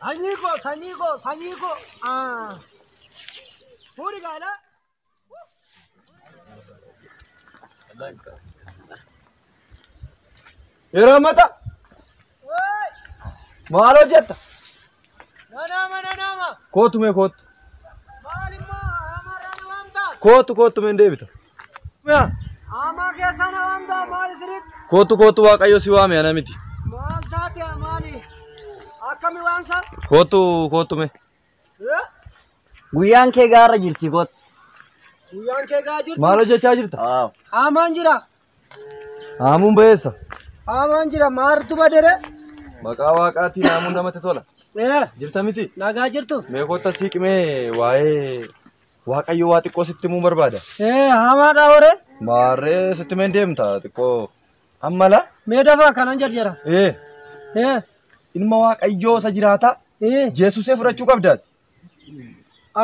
Sanyii koo sanyii koo sanyii koo. Ah. Fuudhi gaala. Yeroo ammata Woi. maal hojjetta? Nanama nanama. Kootu mee kootu. Kootu kootu meen deebita. Amaa keessa na waamtaa maali siritti? Kootu kootu waaqayyo si waame ana miti. Maal taate maali? Akkami waamsa? Kootu kootu mee. Guyyaan kee gaara jirti koot. Guyyaan kee gaa jirti? Maal hojjechaa jirta? Aamaan jira. Haamuun ba'eessa. Haamaan jira maartu badere. Maqaa waaqaatiin haamuun namatti tola. Ee, Jirta miti? nagaa jirtu. Mee kottaa siiqmee waa'ee waaqayyo waa xiqqoo sitti himuu barbaada. Ee, haamaadha hore. Maarree sitti meen deemta xiqqoo ammala. Mee dafaa kanan jarjara. Ee Ee, ilma waaqayyoo isa jiraataa ee, Yesusee fudhachuu qabdaati.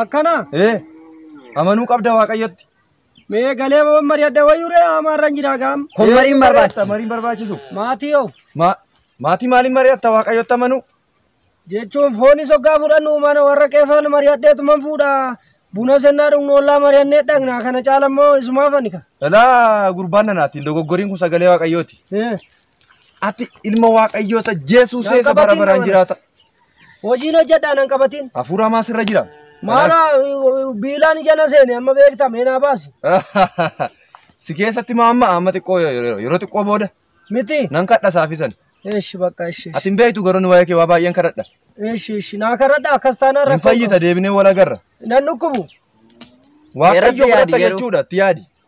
akkana. Ee amanuu qabda waaqayyotti. Mee galee waan mari'adha wayyuu ree amaarra hin jiraa gaam. Kun mariin barbaachisa. Mariin barbaachisu. Maatii hoo Ma- Maatii maaliin mari'atta waaqayyotti amanuu? jechuun foonis hoggaa fudhannu mana warra qeefaan mari'adheetuman fuudha. Buna sennaa dhugnu ollaa mari'annee dhaqna kana caala immoo isumaa fanika. Dhalaa gurbaan nanaati dogoggoriin kun sagalee waaqayyooti. Ati ilma waaqayyoo isa jeesuusee isa bara baraan jiraata. Hojiin hojjedhaa nan qabatin. Hafuura hamaa sirra jira. Maara biilaan ija na seene amma beekta mee naa baasi. Si keessatti maa amma amma xiqqoo yeroo xiqqoo booda Miti. nan kadha saafisan. Eeshi bakka eeshi. Ati hin beektu garuu waa'ee kee waa baay'een kadhadha. Eeshi eeshi naa karadha akkas taanaan Hin rakkoo fayyita deebinee wal agarra. qaba. Nan dhukkubu. Waaqayyo Irratti yaadi fudhata garuu. jechuudha itti yaadi.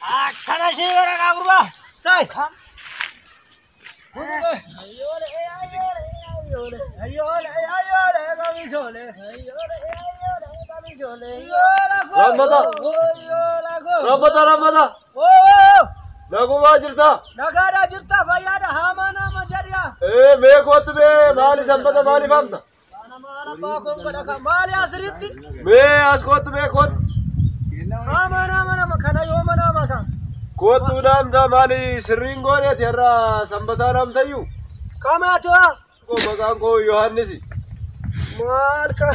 Akkana ishee gara kaa gurbaa. Sai. Rabbata rabbata nagumaa jirta Nagaadhaa jirtaa fayyaadha haamaa nama jedhiyaa. ee mee kootu mee maali sanbata maaliif hamta Maali asirratti? Mee as kootu mee kootu. Nama nama nama kana yoo mana nama kana. Kootu naamta maali sirriin gooneeti har'a sanbataa naamtayyu. Kamaati waa? Koo maqaan koo Yohaannisi. Maal ka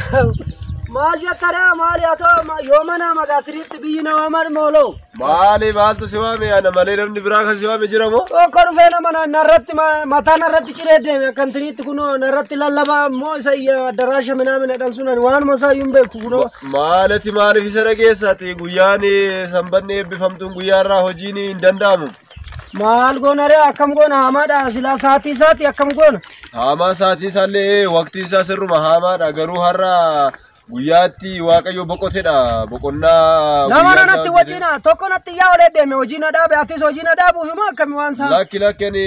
maal jetta dhaa maali haa ta'u yoo mana nama asirratti biyyi namaa maal mooloo? Maali maaltu si waame ana malee namni biraa kan si waame jira moo? Tokko dhufee nama na- narratti ma- mataa narratti ciree deeme akkantiniitti kunoo narratti lallabaa immoo isa iyya addaraasha minaamina dhan sun ani waanuma isaa iyyuu hin beeku kunoo. Ma- Maalati maaliif isa dhageessaati guyyaan eh, sanbanni eebbifamtuun guyyaa irraa hojiin hin danda'amu. Maal goona ree akkam goona hamaadha silaa saatii isaati akkam goona. Haamaa saatii isaallee waqtii isaa sirruma haamaadha garuu har'a Guyyaa itti Waaqayyo boqotedha. Boqonnaa Nama guyyaa nanatti isaan wacii jedhe. na tokko natti yaa olee deeme hojii na dhaabe atis hojii na dhaabuuf immoo akkami waan isaa. Lakki lakki ani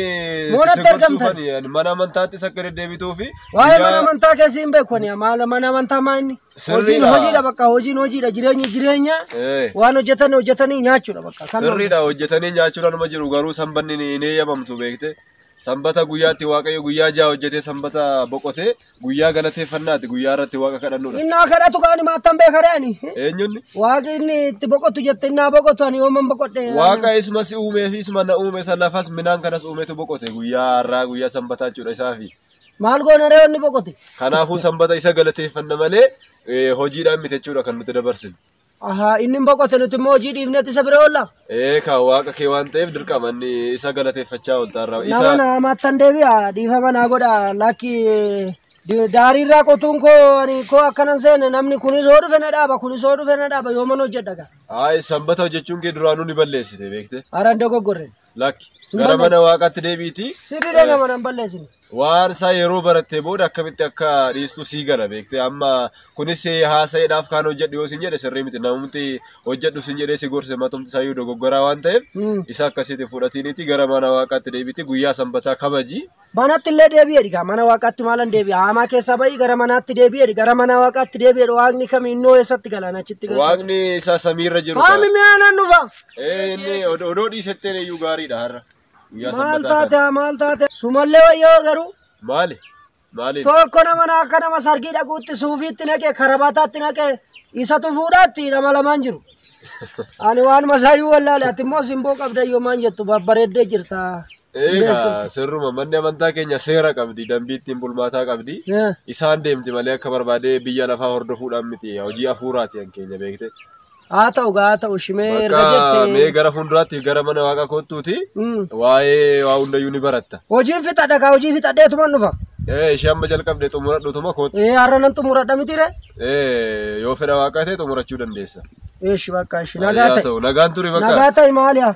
Moonatti si argamtan. sirbarsuufani. Ani Mana amantaattis akka deddeebituu fi Waa'ee mana amantaa keessi hin beeku ani maal mana amantaa maa inni. Sirriidha. Hojiin hojiidha bakka hojiin hojiidha jireenyi jireenya Eh. waan hojjetan hojjetanii nyaachuudha bakka. Kan sirriidha hojjetanii nyaachuudhaan nama jiru garuu sanbanni ni- hin eeyyamamtu beekte. Sanbata guyyaatti Waaqayyo guyyaa ja'a hojjetee sanbata boqotee guyyaa galateeffannaati guyyaa irratti Waaqa kadhannudha. Innaa kadhatu kaani maattan beekare ani. Eenyunni? Waaqi inni itti boqotu jette innaa boqotu ani yooman boqodhe. Waaqa isuma si uumee fi isuma na uume isa lafas minaan kanas uumetu boqote guyyaa har'aa guyyaa sanbataa jechuudha isaafi. Maal goona ree inni boqote? Kanaafuu sanbata isa galateeffanna malee eh, hojiidhaan miti jechuudha kan nuti dabarsinu. Ahaa, inni hin boqote nuti immoo hojii dhiifnetti isa bira oolla. Ee kaa waaqa kee waan ta'eef dirqama inni isa galateeffachaa ooltaa irraa. Nama na hamaattan deebi'a dhiifama naa godha lakki di- daarii irraa qotuun koo ani koo akkanan seene namni kunis hoo dhufe na dhaaba kunis hoo dhufe na dhaaba yooman hojjedha gaa. Ayi sanbata hojjechuun kee duraanuu ni balleessite beekte. Haran dogoggorre. Lakki Hin gara balleessu. mana waaqaatti deebi'iitii. Sirriidha nama nan balleessine. Waan isaa yeroo barattee booda akkamitti akka dhiistu sii gala beektee amma kunis haasa'eedhaaf kaan hojjedhu yoo sin jedhe sirrii miti namumti hojjedhu sin jedhee si gorse matumti isaayyuu dogoggoraa waan ta'eef isa akkasiitiin fudhatiiniti gara mana waaqaatti deebiti guyyaa sanbataa kabaji. Manatti illee deebi'eedhi gaa mana waaqaatti maalan deebi'a haamaa keessaa ba'i gara manaatti deebi'eedhi gara mana waaqaatti deebi'eedhi waaqni kami innoo eessatti galaan achitti galu. Waaqni isaa samiirra jiru. Haami mi'aa nan dhufa. Ee inni odoo dhiisetteen iyyuu gaariidha har'a. Guyyaa Maal sabbataa kana. taate maal taate sumallee wayyoo garuu Maali? Maaliin? tokko nama na akka nama sargii dhaquutti suufiitti naqe karabataatti naqe isatu fuudhaatti nama lamaan jiru. Ani waan masaayyuu wallaale ati immoo simboo qabda yoomaan jettu babbareeddee jirta. Eegaa sirruma manni amantaa keenya seera qabdi, dambii ittiin bulmaataa qabdi. Eh, Isaan deemti malee akka barbaadee biyya lafaa hordofuudhaan miti hojii hafuuraati kan keenya beekte. Haa ta'u gaa haa ta'u shimee erga Bakka jette. mee gara fuulduraatti gara mana waaqa koottuuti Mm. waa'ee waa hundayyuu ni baratta. Hojiin fixadha gaa hojii fixadheetuman dhufa. Ee ishee amma jalqabde xumuradhutuma koottu. Ee har'a nan xumuradha miti ree. Ee yoo fedha waaqaa ta'e xumurachuu dandeessa. Eeshi bakka eeshi Haa nagaa ta'e. ta'u nagaan turi bakka. Nagaa ta'e maali haa?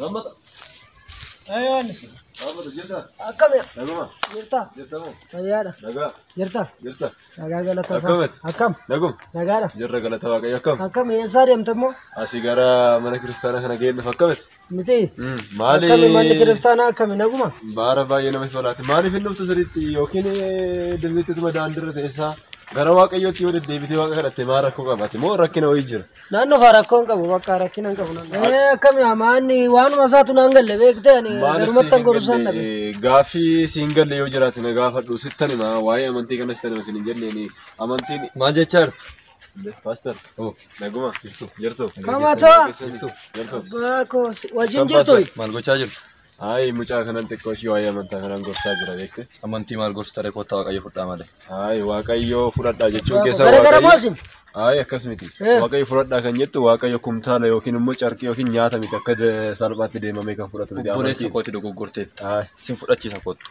Lammata. Ayaan. Lammata jirta. Akkami. Naguma. Jirta. Jirta moo. Fayyaadha. Nagaa. Jirta. Jirta. Nagaa galata isaa. Akkamitti? Akkam. Nagum. Nagaadha. Jirra galata waaqayyo akkam. Akkam eessaa deemta immoo? Asii gara mana kiristaanaa kana ga'een dhufa akkamitti? Miti. Maali? Akkami manni kiristaanaa akkami naguma? Baara baay'ee namatti tolaati. Maaliif hin dhuftu sirriitti yookiin dirreettituma daandirra teessaa gara waaqayyootti yoo deddeebitee waaqa kadhatte maa rakkoo qabate moo rakkina wayii jira? Naan dhufaa rakkoo hin qabu bakka rakkina hin qabu naan. Ee akkami amaanni waanuma isaatu naan galle beektee ani garumatti an gorusaan dhabe. Gaaffii siin galle yoo jiraate na gaafadhu sittan hima waa'ee amantii kanas tan isin hin jenneeni amantiin maal jechaa jirtu? Paaster naguma jirtu. Kamatoo Jirtu. abbaa koo si- wajjin jirtu. Maal gochaa jirtu? Ayi mucaa kanan xiqqoo ishii waa'ee amantaa kanaan gorsaa jira beekte. Amantii maal gorsi taree koottaa waaqayyo fudhaa malee. Ayi waaqayyoo fudhadhaa jechuun keessaa Gara gara moo isin? Ayi akkas miti. Eh. Waaqayyo fudhadhaa kan jettu waaqayyo kumtaala yookiin immoo carqii yookiin nyaata miti akka de- salphaatti deemamee kan fudhatu miti. Obboleessa Amantii. kooti dogoggorteetta. Ayi. Sin fudhachiisa koottu.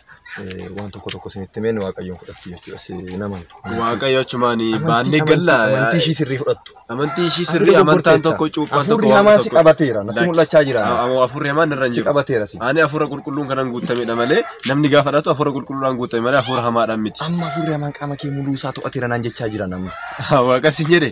eh, waan tokko tokko isinitti himeen waaqayyoon fudhattu jechuudha. Si hin amantu. Waaqayyo achumaan Amantii- baannee amantii- galla. Amantii ishii sirrii fudhattu. Amantii ishii Ati sirrii amantaan dogoggorteetta. tokko cuuphaan tokko Hafuurri waan hamaan si tokko- qabateera. Natti Lakki. mul'achaa jira. A- a- Hafuurri hamaan irra hin Si jiru. qabateera si. Ani hafuura qulqulluun kanan guutamedha malee namni gaafa dhatu hafuura qulqulluudhaan guutame malee hafuura hamaadhaan miti. Amma hafuurri hamaan qaama kee muluu isaa to'ateera naan jechaa jira namni. Waaqa si jedhe.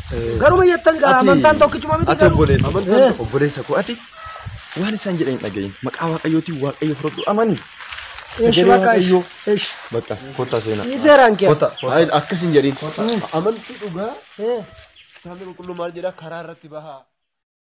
Garuma jettan gaa amantaan tokkichuma miti Ati garuu. obboleessa. Amantaan tokko. Obboleessa koo ati waan isaan jedhan hin dhagahin. Maqaa waaqayyootiin waaqayyo fudhadhu amani. Eesh Sagalee bakka eesh. Waaqayyoo. Eesh. Bakka kottaa seenaa. Ni seeraan kee. Kottaa. Hayi akkas hin jedhin. Amantii dhugaa Eh. kitaabni qulqulluu maal jedha karaa irratti bahaa.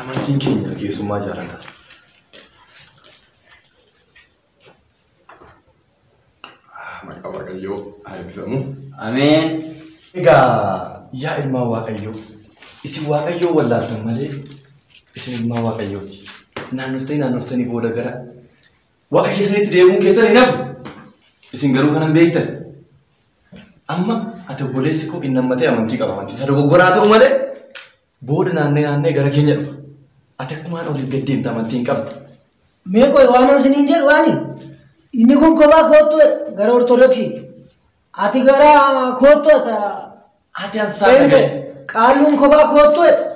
Amantiin keenya keessummaa jaalata. Maqaa Waaqayyoo haa eebbifamu. Ameen. Egaa yaa ilmaan Waaqayyoo, isin Waaqayyoo wallaaltan malee isin ilmaan Waaqayyooti. Naannoftanii naannoftanii booda gara Waaqa keessanitti deemuun keessan hin hafu. Isin garuu kanan beektan. Amma ati obboleessi koo inni ammatee amantii qaba amantii isa dogoggoraa ta'u malee Booda naannee naannee gara keenya dhufa. Ati akkumaan oliif gad deemta amantii hin qabdu. Mee qoy waan isiniin jedhu ani inni kun kophaa koottu jedha gara ortodoksiitti. Ati gara koottu ata Ati ansaa Beente, dhagaye. qaalluun kophaa koottu jedha.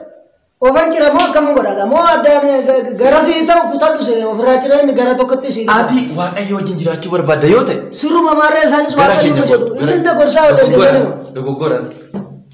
Ofan cira moo akkam godhata moo addaan eh, ga- ga- gara sii ta'u kutadhu sire ofirraa cira inni gara tokkotti sii dhiba. Ati waaqayyo wajjin jiraachuu barbaadda yoo ta'e. Sirruma maarree isaanis gara waaqayyo keenya jedhu. kootu. Innis na gorsaa waliin Dogoggora. deemanuma. Dogoggora.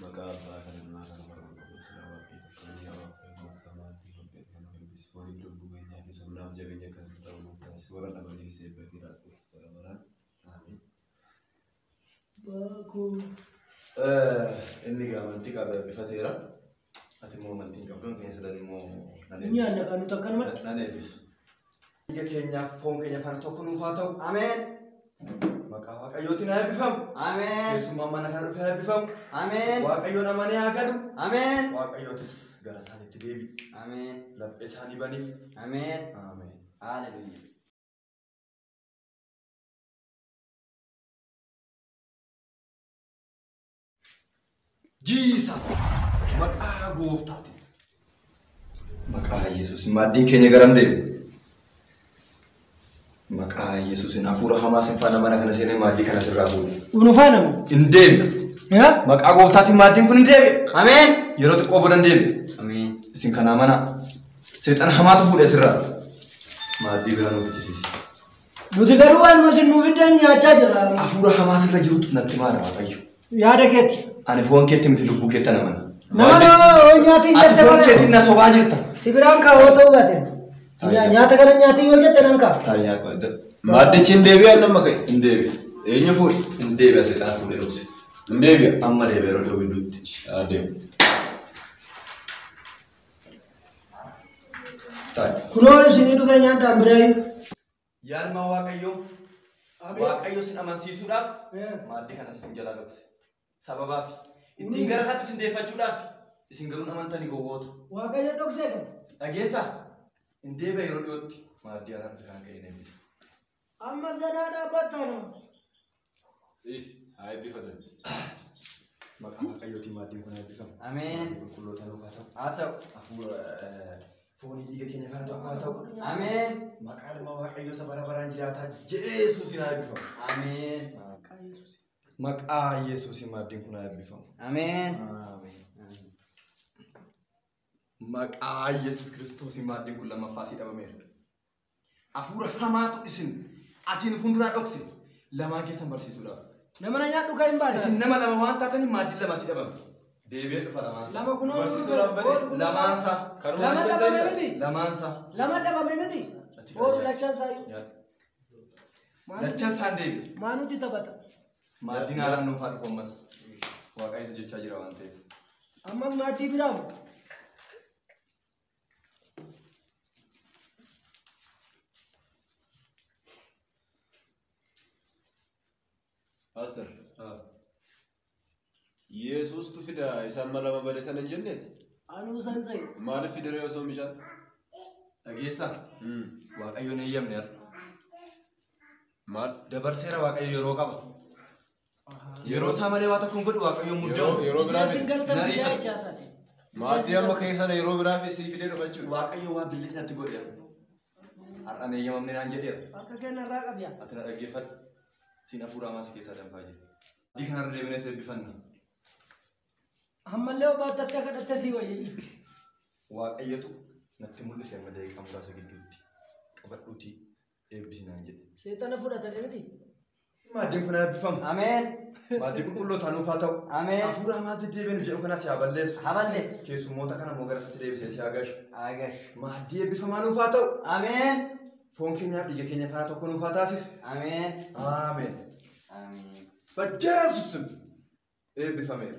Maqaa Abbaa kan Ilmaa kan Hafuura Qulqulluutiin waaqeffamee yaa waaqeffamee gooftaa maatii waaqeffamee nu eebbisi waliin lubbuu keenyaa fi humnaaf jabeenya akka nuuf ta'u nuuf taasisi warra dhabaniif seebba kee laadhuuf bara baraan aamiin. Inni gaamantii qabu eebbifateera. Ati immoo amantii hin qabdu keenya sadan immoo nan Inni eebbisa. aanna kan nuti akkanumatti. Nan eebbisa. Biyya keenyaaf foon keenya fara tokko nuuf haa ta'u. Ameen. Maqaa Waaqayyootiin haa eebbifamu. Ameen. Keessummaan mana kana dhufee haa eebbifamu. Ameen. Waaqayyoon amanee haa galu. Ameen. Waaqayyootis gara isaaniitti deebi'u. Ameen. Laphee isaanii baniif. Ameen. Ameen. Hallelujah. Jesus maqaa gooftaati. Maqaa Yesuus maaddiin keenya garam deemu? Maqaa Yesuusin hafuura hamaa sin faana mana kana seenee maaddii kana sirraa fuudhe. Unu faana moo? Hin deemne. Yaa? Maqaa gooftaatiin maaddiin kun hin deebi'e. Ameen. Yeroo xiqqoo booda hin deebi'e. Ameen. Isin kanaa mana seexana hamaatu fuudhe sirraa. Maaddii biraa nuuf ittisiisi. Nuti garuu waanuma isin nuu fiddan nyaachaa jirra. Hafuura hamaa sirra jirutu natti maala Waaqayyo. Yaada keetti. Ani foon keetti miti lubbuu keetti ana mana. Nama yoo nyaata hin Ati jette foon keetti na sobaa jirta. Si biraan kaa yoo ta'uu baate. Nya- Nyaata kana nyaatii yoo jette nan kaa. Taayaa qoodda. Maaddichi hin deebi'a inni amma ka'e hin deebi'a. Eenyu fuudhe hin deebi'a seexaa fuudhe dhokse. Hin deebi'a amma deebi'a yeroo dhiyoo gidduutti. Haa deemu. Taa'e. Kunoo isinii dhufee nyaadhaan biraayu. Yaalmaa Waaqayyoo Ameen. Waaqayyo sin amansiisuudhaaf Eh. maaddii kanas isin jalaa dhokse. Sababaaf ittiin gara isaatti isin deeffachuudhaaf isin garuu hin amantanii gowwoota. Waaqayyo dhoksee kan. Dhageessaa hin deebi'a yeroo dhiyootti maaddii kanatti kan akka hin eebbisa. Amma zanaa dhaabbattaa nama. Is haa eebbifatan. Maqaa Waaqayyootiin maaddiin kun eebbifamu. Ameen. Qulqulloota nuuf haa ta'u. Haa ta'u. Hafuura eh, foonii dhiiga keenya kana tokko haa ta'u. Ameen. Maqaa ilma Waaqayyoo isa bara baraan jiraataa Jeesuusiin haa eebbifamu. Ameen. Maqaa Yesuusiin maaddiin kun haa eebbifamu. Ameen. Ameen. Maqaa Yesuus Kiristoosiin maaddiin kun lammaffaa sii dhabameera. Hafuura hamaatu isin asiin fuulduraa dhokse lamaan keessan barsiisuudhaaf. Nama na nyaadhu kan hin baane. Isin nama lama waan taataniif maaddii lama si dhabame. Deebi'ee dhufa lamaan isaa. Lama kunoo Barsiisuudhaaf bade. kun- Lamaan isaa. Karuma Lama jecha dhabame deebi'a. miti. Lamaan isaa. Lama dhabame miti. Achi Boru gaariidha. lachan sayu. Nyaadhu. Lachan isaan deebi'e. Maanuti taphata. Maaddiin haalaan nuuf haa dhufu ammas. Waaqayyo isa jechaa jira waan ta'eef. Ammas maaddii biraamu. Pastor, Ah, Yesuustu fida isaan mala lama bade sana hin jenneeti. Anuu san se'e. Maaliif fidere osoo mishaan? dhageessaa Hmm. waaqayyoon eeyyamne har'a. Maal? Dabarseera waaqayyo yeroo qaba. Yeroo isaa malee waa tokko hin godhu waaqayyoon muddamu. Yeroo- yeroo biraa Isin fide. galatan Narii biyyaa fide. jechaa isaati. Maatii amma keessan yeroo biraa fi sii fidee dhufa jechuudha. Waaqayyo waa billichi natti godhe. Har'an eeyyamamne naan jedheera. Akka kenna irraa qabya. Ati na dhaggeeffadhu. Siin hafuuraa maas keessaa danfaa jiru. Adii kanarra deebinee itti eebbifanna. Ammallee obbaatti akka kadhatte sii wayyi. Waaqayyotu natti mul'ise amma daqiiqaa muraasa gidduutti. Qabadhuutii eebbisi naan jedhe. Seexana fudhatadhe miti. Maaddeen kun eebbifamu. Ameen. Maaddii qulqulluu taanuuf haa ta'u. Ameen. Hafuura hamaatti deebiin jedhu kanas yaa balleessu. Haa balleessu. Keessummoota kana immoo gara isaatti deebisee si haa gashu. Agash. Maaddii eebbifamaa nuuf haa ta'u. Ameen. Foon keenyaaf dhiiga keenya faana tokko nuuf haa taasisu. Ameen. Ameen. Ameen. Bajjeesus eebbifameera.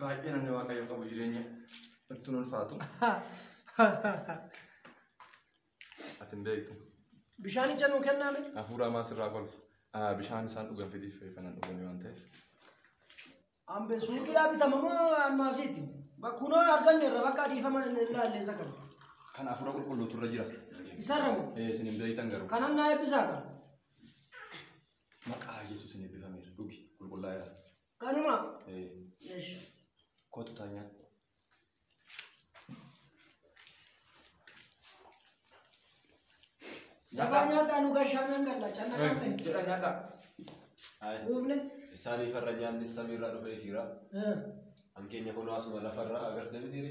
Baay'ee namni waaqayyo qabu jireenya ittiin ulfaatu. Ati hin beektu. Bishaan ija nuu kennaa miti. Hafuura hamaa sirraa kolfa. Ah, Bishaan isaan dhugan fidiif kanan dhuganii waan ta'eef. Ambe suuqiidhaa bitama moo ammaasiiti? Kunoo arganne irra bakka adiifama hin ilaalle isa kana. Kan hafuura qulqulluutu irra jira. Isarra moo? Eh, Isin hin beektan garuu. Kanan naa eebbisaa qaba. Maqaa Yesuusin eebbifameera. Dhugi qulqullaa'eera. Kanuma. Ee, Eesh. Kootu taanyaa. Lafaa nyaadhaa nu gashaanaan galla. Canna kan ta'e. Jedha nyaadhaa. Ayi. Uufne. Isaanii farra nyaanni samiirraa dhufee fiira. Eh. Hankeenya kun asuma lafarraa agartee mitiire.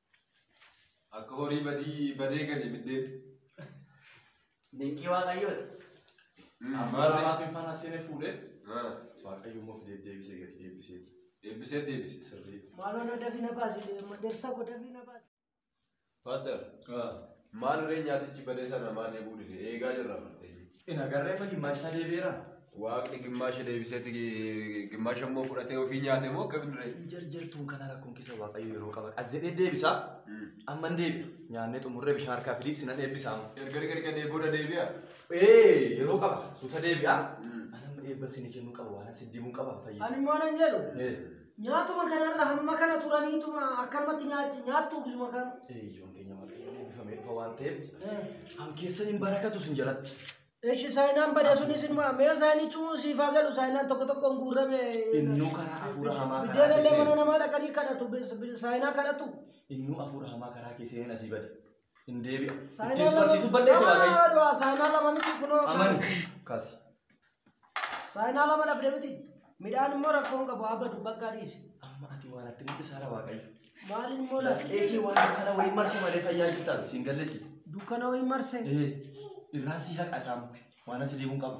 Akka horii badii badee gale biddeen. Dinqii waaqayyooti. Afaan Amaaraatiin faana seene fuudhee waaqayyummaa of deebisee gadi deebisee Deebisee deebise. sirrii. Maaloo na dafi na baasi madarsa ko dafi na baasi. Paaster, maal ree nyaatichi badee sana maal eeguu dide? Eegaa jirra bartee. Hin agarree amma gimmaasha isaa deebi'eera. Waaqni gimmaasha deebiseeti gimmaasha immoo fudhatee ofii nyaate moo akka binduree? Hin jarjartuun kana rakkoon keessa waaqayyo yeroo qaba. As jedhee deebisaa amma hin deebi'a. Nyaannee xumurree bishaan harkaa fidii sinan eebbisaa amma. Erga dhiqa dhiqa dee booda deebi'a. Ee yeroo qaba suuta deebi'aa. Anamma eebba isinii kennuu qaba waan isin dibuun qaba fayyada. Ani immoo nan jedhu. Ee. Nyaatuma kanarra hamma kana turaniituma akkanumatti nyaachi nyaattu gisuma kan. Eeyyoon keenya waaqayyoon eebbifamee dhufa waan ta'eef kan keessan hin barakatu sin jalatti. Eshi saayinaan bada sunis ilma mee saayinichuu siif haa galu saayinaan tokko tokkoon guurrame. Innuu karaa hafuura hamaa karaa Biddeen illee mana keessee namaa dhaqanii kadhatu bis- bis- saayinaa kadhatu. innuu hafuura hamaa karaa keesseen asii bade. hin deebi'a. Saayinaa Ittiin si lama- barsiisuu balleessa lama waaqayyo. lama du'a, saayinaa lama miti kunoo. Amani kaasi. Saayinaa lama dhabde miti. Midhaan immoo rakkoon qabu haa badu bakka dhiise. Amma ati waan atti mudde saara waaqayyo. Maaliin immoo lafa Eekii waan kana wayii marse malee fayyaa jirtaan siin gallesi. dukkana wayii marse. Ee irraan si haqa isaan waan asi deemuun qabu.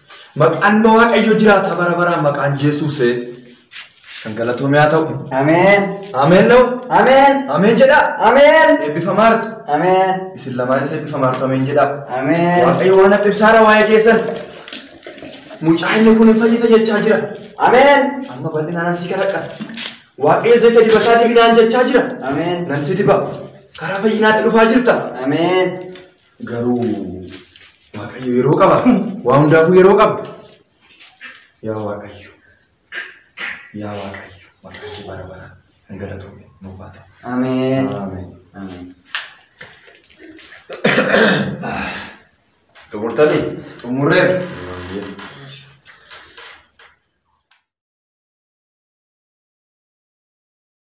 Maqaan Waaqayyo jiraataa bara baraan maqaan Jeesuusee kan galatoomee haa ta'u. Ameen. Ameen na'u. Ameen. Ameen jedhaa. Ameen. Eebbifamaa harka. Ameen. Isin lamaan isa eebbifamaa harka ameen jedhaa. Ameen. Waaqayyo waan akka ibsaara waa'ee keessan. Mucaa inni kun hin fayyita jechaa jira. Ameen. Amma bal'inaan asii kadhadha. Waaqayyo zayita dibataa dibinaan jechaa jira. Ameen. Nan si diba. Karaa fayyinaatti dhufaa jirta. Ameen. Garuu Waaqayyo yeroo qaba. Waa hundaafuu yeroo qaba. Yaa Waaqayyo. Yaa Waaqayyo. Waaqayyo bara bara hin galatoomne nuuf haa ta'u. Ameen. Ameen. Ameen. Xumurtanii? Xumurreera. Ameen.